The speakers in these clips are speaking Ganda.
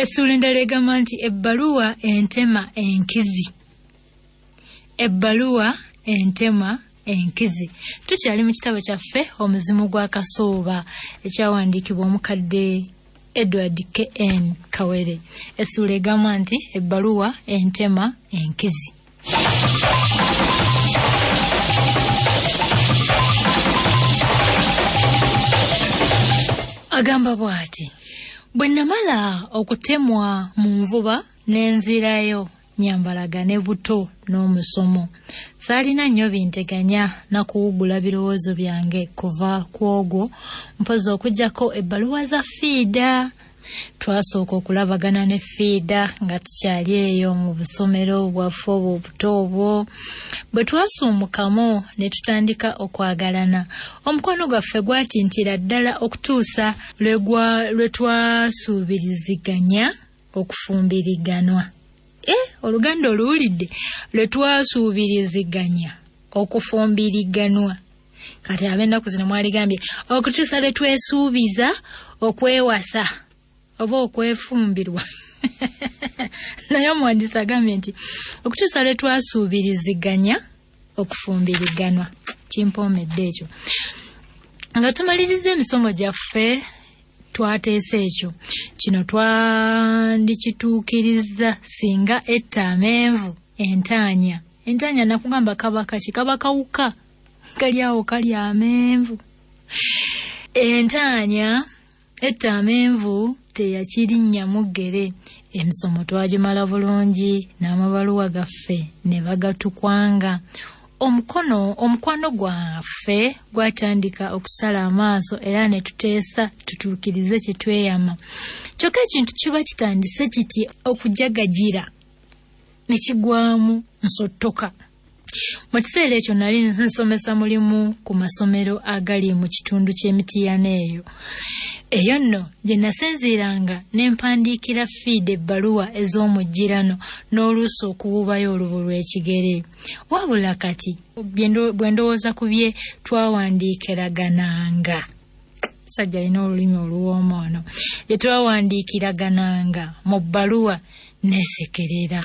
Essuula endala egamba nti ebbaluwa entema enkizi. Ebbaluwa entema enkizi. Tukyali mu kitabo kyaffe omuzimu gwa Kasooba ekyawandiikibwa omukadde Edward KN Kawere. Essuula egamba nti ebbaluwa entema enkizi. agamba bw'ati bwe namala okutemwa mu nvuba n'enzirayo nyambalaga ne buto n'omusomo saalina nnyo binteganya na kuwugula birowoozo byange kuva ku ogwo mpozi okugyako ebbaluwa za fiida twasooka okulabagana ne fiida nga tukyali eyo mu busomero bwaffe obwo obuto obwo bwe twasuumukamu ne tutandika okwagalana omukwano gwaffe gwatintira ddala okutuusa lwe twasuubiriziganya okufumbiriganwa e oluganda oluwulidde lwe twasuubiriziganya okufumbiriganwa kati ab'ennaku zino mwaligambye okutuusa lwe twesuubiza okwewasa oba okwefumbirwa naye omuwandiisi agambye nti okutuusa lwe twasuubiriziganya okufumbiriganwa kimpoomedde ekyo nga tumaliriza emisomo gyaffe twateesa ekyo kino twandikituukirizza singa etta amenvu entaanya entaanya nakugamba kabaka kikabakawuka kali awo kali amenvu entaanya etta amenvu teyakirinnyamu ggere emisomo twagimala bulungi n'amabaluwa gaffe ne bagatukwanga omukono omukwano gwaffe gwatandika okusala amaaso era ne tuteesa tutuukirize kye tweyama kyokka ekintu kiba kitandise kiti okujagagira ne kigwamu nsottoka Mu kiseera ekyo nali nsomesa mulimu ku masomero agali mu kitundu ky'emitiyana eyo. Eyo nno gye nasinziiranga ne mpandiikira fiida ebbaluwa ez'omujjirano n'oluusi okuwuubayo olubu lw'ekigere. Wabula kati bwe ndowooza ku bye twawandiikiragananga sajja alina olulimi oluwooma ono gye twawandiikiragananga mu bbaluwa neesekerera.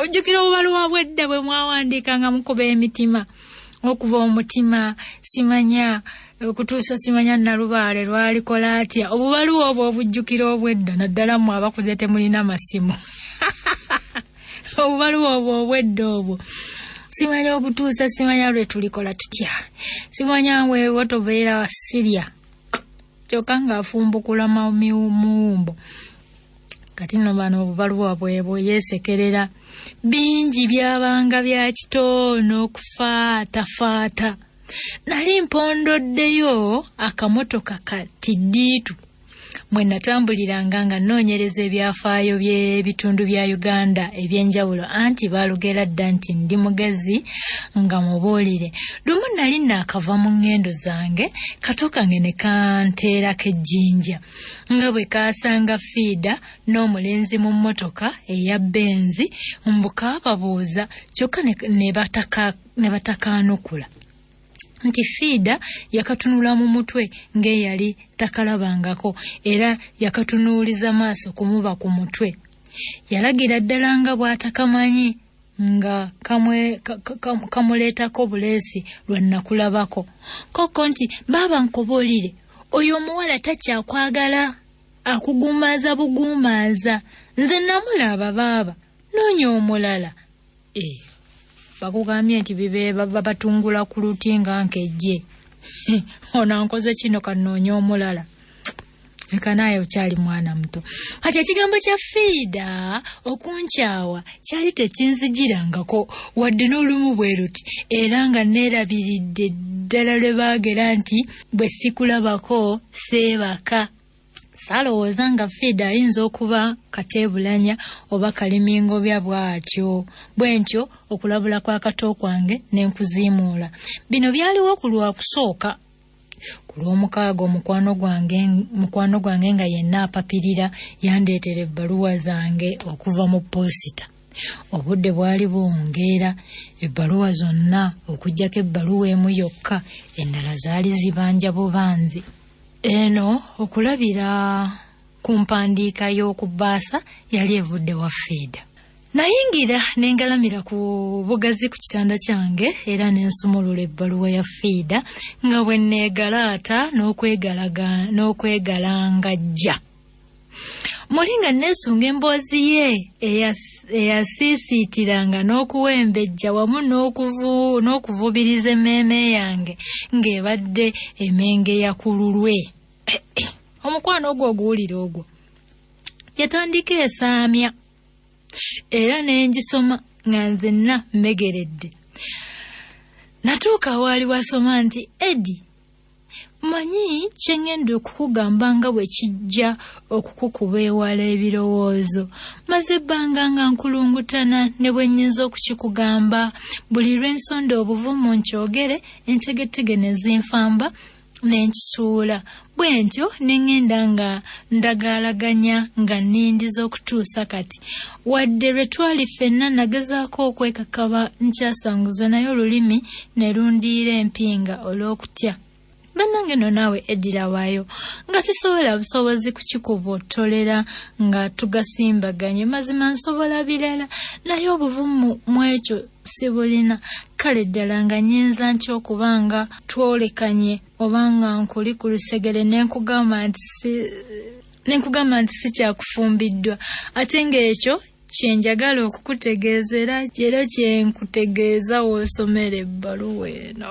ojjukira obubaluwa bwedda bwe mwawandiika nga mukuba emitima okuva omutima simanya okutuusa simanya nalubaale lwalikola atya obubaluwa obwo obujjukira obwedda naddala mwe abakuze temulina masimu obubaluwa obwo obwedda obwo simanya okutuusa simanya lwe tulikola tutya simanya ngwewo tobeera sirya kyokka ng'afumbukula muwumbo kati no bano obubaluwa bwebwo yesekerera bingi byabanga bya kitoono okufaatafaata nali mpondoddeyo akamotoka ka tiddiitu mwe natambuliranga nga nnoonyereza ebyafaayo by'ebitundu bya uganda eby'enjawulo anti baalugera dda nti ndi mugezi nga mubuulire lumu nali naakava mu ŋŋendo zange kato kange ne kanteerako ejjinja nga bwe kaasanga fiida n'omulenzi mu mmotoka eya benzi mbu kaababuuza kyokka ne batakaanukula nti fiida yakatunula mu mutwe ng'eyali takalabangako era yakatunuuliza maaso kumuba ku mutwe yalagira ddala nga bw'atakamanyi nga kamuleetako buleesi lwe nnakulabako kokko nti baaba nkubuulire oyo omuwala takyakwagala akugumaaza bugumaaza nze namulaba baaba noonya omulala e bakugambye nti bibeebabatungula ku luti nga nkejje onankoze kino kanoonya omulala leka naaye okyali mwana muto kati ekigambo kya fiida okunkyawa kyali tekinzijirangako wadde n'olumu bwe luti era nga neerabiridde ddala lwe baagera nti bwe sikulabako seebaka saalowooza nga fiida ayinza okuba kateebulanya oba kalimingobya bw'atyo bwe ntyo okulabula kw'akato kwange ne nkuziimuula bino byaliwo ku lwakusooka ku lw'omukaaga omukwano gwange mukwano gwange nga yenna apapirira yandeetera ebbaluwa zange okuva mu poosita obudde bwali buwungeera ebbaluwa zonna okuggyako ebbaluwa emu yokka endala zaali zibanja bubanzi eno okulabira ku mpandiika y'okubbaasa yali evudde wa fiida nayingira ne ngalamira ku bugazi ku kitanda kyange era ne nsumulula ebbaluwa ya fiida nga bwe nneegalaata n'okwegalangajja muli nga nneesunga emboozi ye eyasiisiitiranga n'okuwembejja wamu n'okuvubiriza emmeeme yange ng'ebadde emenge ya ku lulwe omukwano ogwo oguwulira ogwo yatandika esaamya era ne ngisoma nga nzenna mmegeredde natuuka waali wasoma nti edi manyi kye ŋŋenda okukugamba nga bwe kijja okukukuba ewala ebirowoozo maze ebbanga nga nkulungutana ne bwe nnyinza okukikugamba buli lwe nsonda obuvumu nkyogere entegetege ne zinfamba ne nkisuula bwentyo ne ŋŋenda nga ndagaalaganya nga nnindiza okutuusa kati wadde lwe twali ffenna nagezaako okwekakaba nkyasanguza naye olulimi ne lundiira empinga olw'okutya bannange no naawe eddira waayo nga sisobola busobozi kukikubottolera nga tugasimbaganye mazima nsobola birala naye obuvumu mw'ekyo sibulina kale ddala nga nyinza ntya okuba nga twolekanye oba nga nkuli ku lusegere nenkugamba nti si nenkugamba nti sikyakufumbiddwa ate ng'ekyo kyenjagala okukutegeeza era era kyenkutegeeza woosomera ebbaluwa eno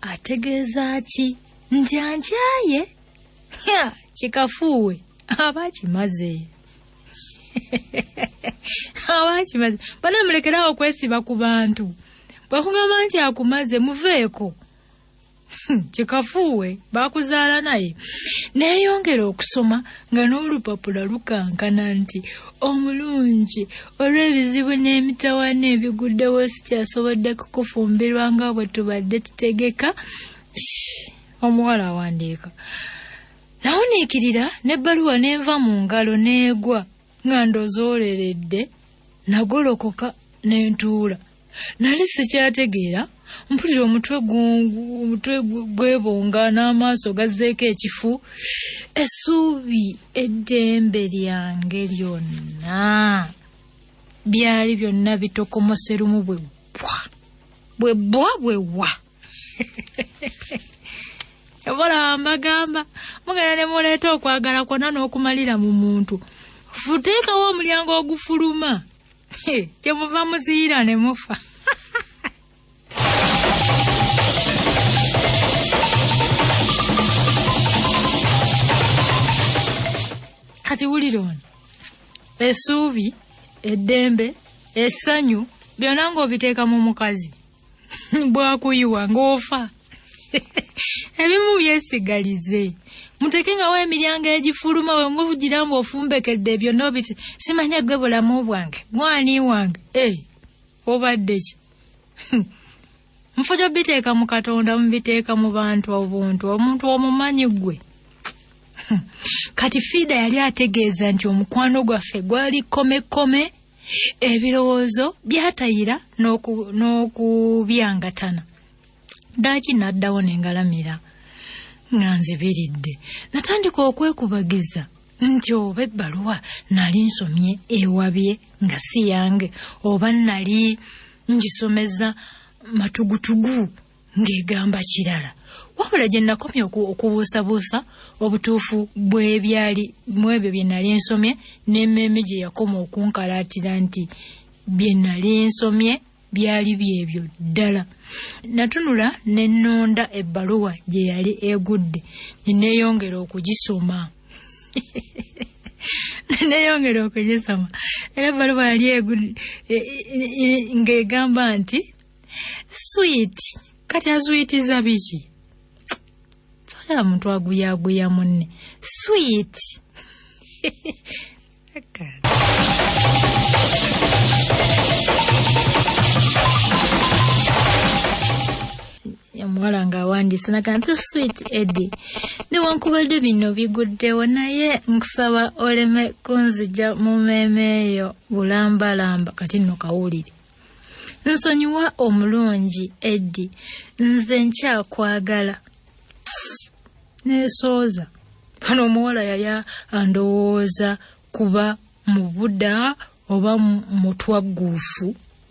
ategeeza ki nti ankyaye kikafuuwe aba akimaze aba akimaze bana mulekerawo okwesiba ku bantu bwakugamba nti akumaze muveeko kikafuuwe bakuzaala naye neeyongera okusoma nga n'olupapula lukankana nti omulungi olw'ebizibu n'emitawaana ebiguddewo sikyasobodde kukufumbirwa nga bwe tubadde tutegeka omuwala awandiika nawuniikirira n'ebbaluwa n'enva mu ngalo n'egwa nga ndozooleredde nagolokoka ne ntuula nali sikyategeera mpulira omutwe omutwe gwebonga n'amaaso gazzeeko ekifu essuubi eddembe lyange lyonna byali byonna bitokomoserumu bwe bbwa bwe bbwa bwe wa obola mbagamba mugenda ne muleeta okwagala kwonna n'okumalira mu muntu futeekawo omulyango ogufuluma kyemuva muziyira ne mufa kati wulira ono esuubi eddembe essanyu byonna ng'obiteeka mu mukazi bwakuyiwa ng'ofa ebimu byesigalize muteke ngawo emiryango egifuluma we muvugira mbu ofumbekedde ebyo nobiti simanya gwe bulamu bwange gwani wange e eh, obadde ki mufuja biteeka mu katonda mubiteeka mu bantu obuntu omuntu omumanyi gwe kati fiida yali ategeeza nti omukwano gwaffe gwali komekome ebirowoozo byatayira n'okubyangatana ddaaki n'addawo ne ngalamira nga nzibiridde natandika okwekubagiza nti oba ebbaluwa nali nsomye ewabye nga si yange oba nali ngisomeza matugutugu ng'egamba kirala wabula gye nakomye okubuusabuusa obutuufu bw'ebyali mu ebyo bye nali nsomye n'emmeeme gye yakoma okunkalaatira nti bye nali nsomye byali byebyo ddala natunula ne nnonda ebbaluwa gye yali egudde ne neeyongera okugisoma neyongera okugisoma era ebbaluwa yali e, e, e, ng'egamba nti sweet kati azuyitiza biki sagala muntu aguyaguya munne sweet omuwala ng'awandiise naga nti sweet eddy newankubadde bino biguddewo naye nkusaba oleme kunzija mu mmeeme eyo bulambalamba kati nno kawulire nsonyiwa omulungi eddi nze nkyakwagala nesooza fana omuwala yali andowooza kuba mubuda oba mutwagguufu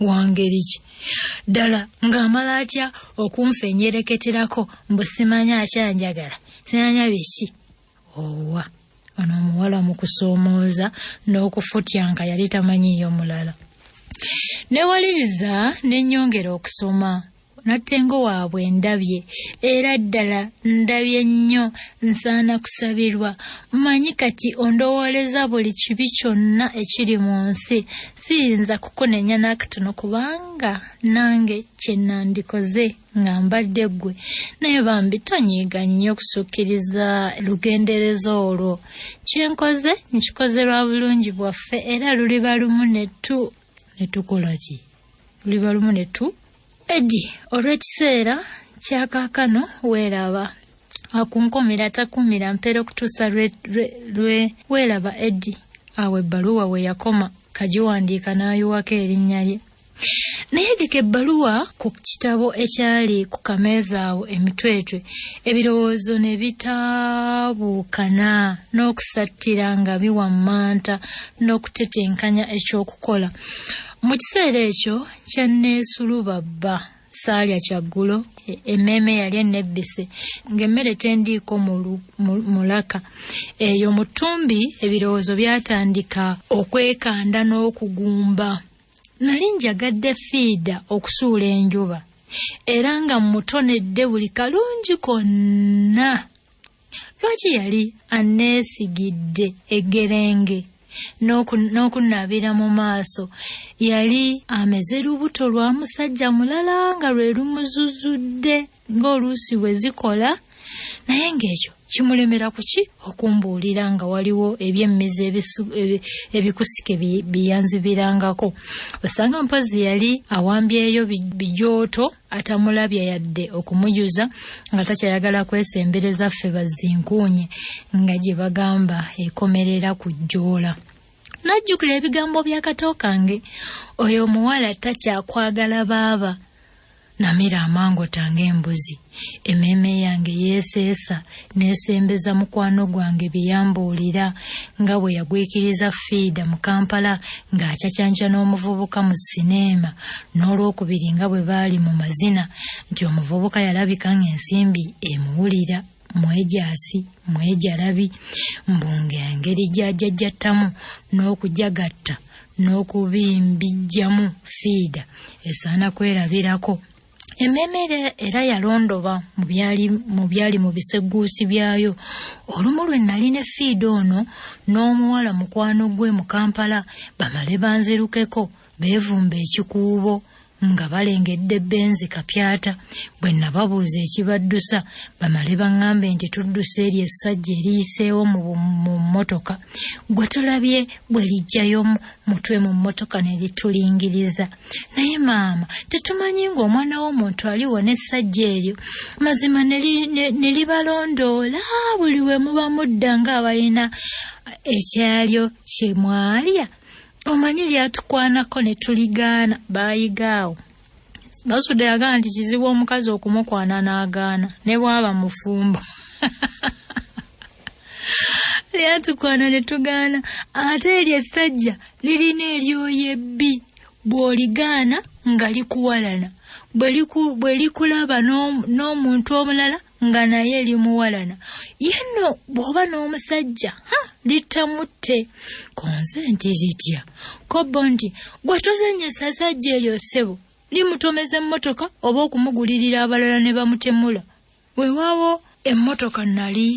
wangeri ki ddala ng'amala atya okunfenyereketerako mbu simanya akyanjagala simanya biki owa ono omuwala mu kusoomooza n'okufutya nga yali tamanyiiyo mulala newaliriza nenyongera okusoma nattengo waabwe ndabye era ddala ndabye nnyo nsaana kusabirwa manyi kati ondowooleza buli kibi kyonna ekiri mu nsi siyinza kukunenya n'akatono kubanga nange kye nandikoze nga mbadde ggwe naye bambi tonyiiga nnyo okusukkiriza lugendereza olwo kye nkoze nkikoze lwa bulungi bwaffe era luliba lumu netu ne tukola ki luliba lumu ne tu edi olw'ekiseera kyakaakano weeraba akunkomera takumira mpeera okutuusa lwe weeraba edi awo ebbaluwa we yakoma kagiwandiika n'ayiwako erinnya lye nayegeka ebbaluwa ku kitabo ekyali ku kameeza awo emitwetwe ebirowoozo ne bitaabuukana n'okusattira nga biwammanta n'okutetenkanya ekyokukola mu kiseera ekyo kyanneesulubabba saalya kyaggulo e, emmeeme yali ennebbise ng'emmere tendiiko mulaka eyo mu ttumbi ebirowoozo byatandika okwekanda n'okugumba nali njagadde fiida okusuula enjuba era nga mmutonedde buli kalungi konna lwaki yali anneesigidde eggerenge n'okunaabira mu maaso yali ameze lubuto lwa musajja mulala nga lwe lumuzuzudde ng'oluusi bwe zikola naye ng'ekyo kimulemera kuki okumbuulira nga waliwo ebyemmizi ebikusike biyanzibirangako osanga mpozzi yali awambyeyo bijooto atamulabya yadde okumujuza nga takyayagala kwesembereza ffe bazinkuunye nga gye bagamba ekomerera ku jjoola najjukira ebigambo by'akato kange oyo omuwala takyakwagala baaba Namira amangota ng'embuzi, emmeeme yange yeeseesa n'esembeza mukwano gwange bye yambuulira nga bwe yagwikiriza fiida mu Kampala ng'acacanca n'omuvubuka mu sineema n'olwokubiri nga bwe baali mu mazina nti omuvubuka yalabika ng'ensimbi emuwulira. mwejaasi mwejalabi mbu ng'engeri gy'ajajjattamu n'okujagatta n'okubimbijjamu fiida esaana kwerabirako emmeeme era yalondoba mu byali mu bisegguusi byayo olumu lwe nali ne fiida ono n'omuwala mukwano gwe mu kampala bamale banzirukeko beevumba ekikuubo nga balengedde benzi kapyata bwe nababuuza ekibaddusa bamale baŋŋambe nti tudduse eryo essajja eriyiseewo mu mmotoka gwe tulabye bwe lijjayo mutwe mu mmotoka ne litulingiriza naye maama tetumanyi ng'omwana w'omuntu aliwo n'essajja eryo mazima ne libalondoola buli we muba mudda ng'abalina ekyalyo kye mwalya omanyi lyatukwanako ne tuligaana baayigaawo basuda yagamba nti kizibu omukazi okumukwana n'agaana ne bwaba mufumbo lyatukwana ne tugaana ate eryo essajja lirina eryoyo ebbi bw'oligaana nga likuwalana bwe likulaba n'omuntu omulala nga naye limuwalana ye nno bw'oba n'omusajja ha littamutte ku nze nti litya kobbo nti gwe tozannyisa sajja eryo ssebo limutomeza emmotoka oba okumugulirira abalala ne bamutemula weewaawo emmotoka nali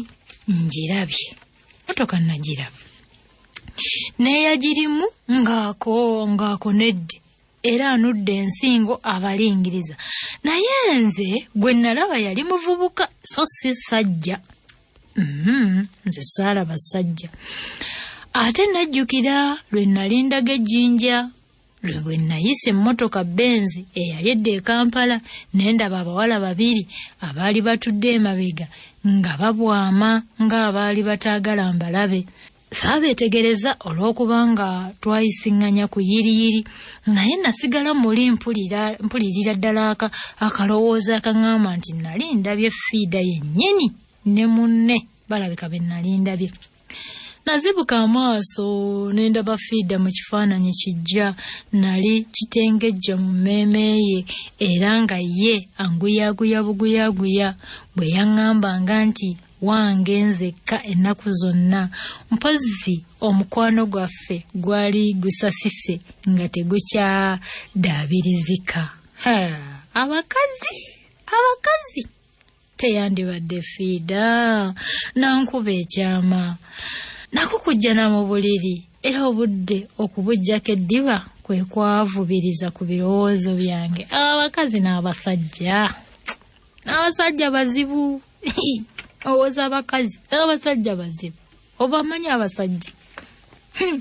ngirabye emmotoka nagiraba n'eyagirimu ng'ako ng'ako nedde era anudde ensingo abalingiriza naye nze gwe nalaba yali muvubuka so si sajja mm-hmm, nze saala basajja ate najjukira lwe nalindaga ejjinja lwe bwe nayisa emmotoka benzi eyali edda e kampala ne ndaba abawala babiri abaali batudde emabega nga babwama ng'abaali bataagala mbalabe saabeetegereza olw'okubanga twayisiŋŋanya ku yiriyiri naye nasigala muli mpulirira ddala aka akalowooza akaŋŋamba nti nali ndabye fiida yennyini ne munne balabika be nali ndabye nazibuka amaaso ne ndaba fiida mu kifaananyi kijja nali kitengejja mu mmeeme ye era nga ye anguyaaguya buguyaaguya bwe yaŋŋambanga nti wange nzekka ennaku zonna mpozzi omukwano gwaffe gwali gusasise nga tegukyadaabirizika abakazi abakazi teyandibadde fiida nankuba ekyama nako kujjana mu buliri era obudde okubujjako eddiba kwe kwavubiriza ku birowoozo byange abakazi n'abasajja n'abasajja bazibu owoza abakazi era abasajja bazibu obamanyi abasajja hmm.